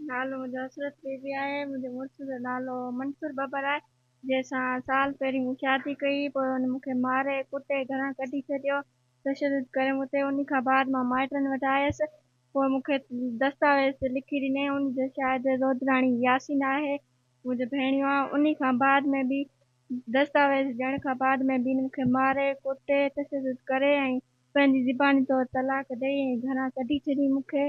نالو منهنجو حسرت بي بي آهي منهنجي مڙس جو نالو منصور ٻٻر آهي جنهن سان سال پهرين مون شادي ڪئي پوء هن مون کي ماري ڪٽي گهران ڪڍي ڇڏيو تشدد ڪري مون تي انهي کان بعد مان مائٽن وٽ آيس پوء مون کي دستاويز لکي ڏني ان جو شاهد رودراڻي ياسين آهي منهنجو ڀيڻيو آهي انهي کان بعد ۾ به دستاويز ڏيڻ کان بعد ۾ به هن مون کي ماري ڪٽي تشدد ڪري ۽ پنهنجي زباني طور طلاق ڏئي ۽ گهران ڪڍي ڇڏي مون کي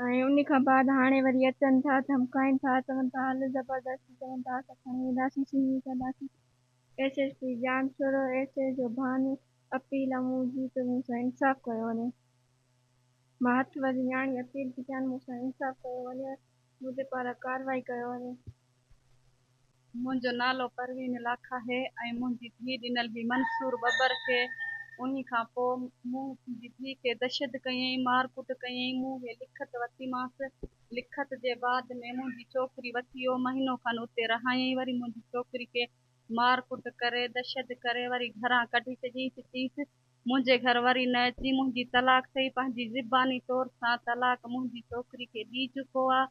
۽ ان کان بعد هاڻي وري اچن ٿا ڌمڪائين ٿا چون ٿا هل زبردستي چون ٿا اسان کڻي وينداسين سنهي ڪنداسين S S P Jan Soro S A جو ڀانو اپيل آ مون جي ته مون سان انصاف ڪيو وڃي مان هٿ وڌي نياڻي اپيل ٿي ڪيان مون سان انصاف ڪيو وڃي منهنجي پاران ڪارروائي ڪيو وڃي. منهنجو نالو پروين لاکا آهي ۽ منهنجي ڌيء ڏنل هئي منصور ٻٻر کي انهي کان پوء مون منهنجي ڌيء کي دشد ڪيئين مار ڪٽ ڪيئين مون هي لکت وتيمانس لکت جي بعد ۾ منهنجي ڇوڪري وتيو مهينو کن اتي رهايئين وري منهنجي ڇوڪري کي مار ڪٽ ڪري دشد ڪري وري گهران ڪڍي ڇڏيئين ته چيس منهنجي گهر وري نه اچين منهنجي طلاق ٿئي پنهنجي زباني طور سان طلاق منهنجي ڇوڪري کي ڏي چڪو آ.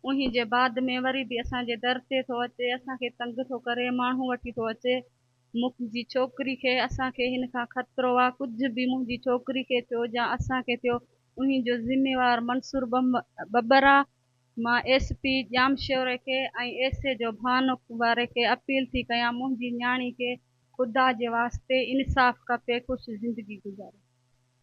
انهي جي بعد ۾ وري به اسان جي در تي ٿو اچي اسان کي تنگ ٿو ڪري ماڻهو وٺي ٿو اچي مڪنهنجي ڇوڪري کي اسان کي هن کان خطرو آ ڪجهه به منهنجي ڇوڪري کي ٿيو جا اسان کي ٿيو انهي جو ذميوار منصور ٻٻر آ مان ايس پي ڄامشوري کي ۽ ايس اي جو ڀانڪ واري کي اپيل ٿي ڪيان منهنجي نياڻي کي خدا جي واسطي انصاف کپي خوش زندگي گذاري.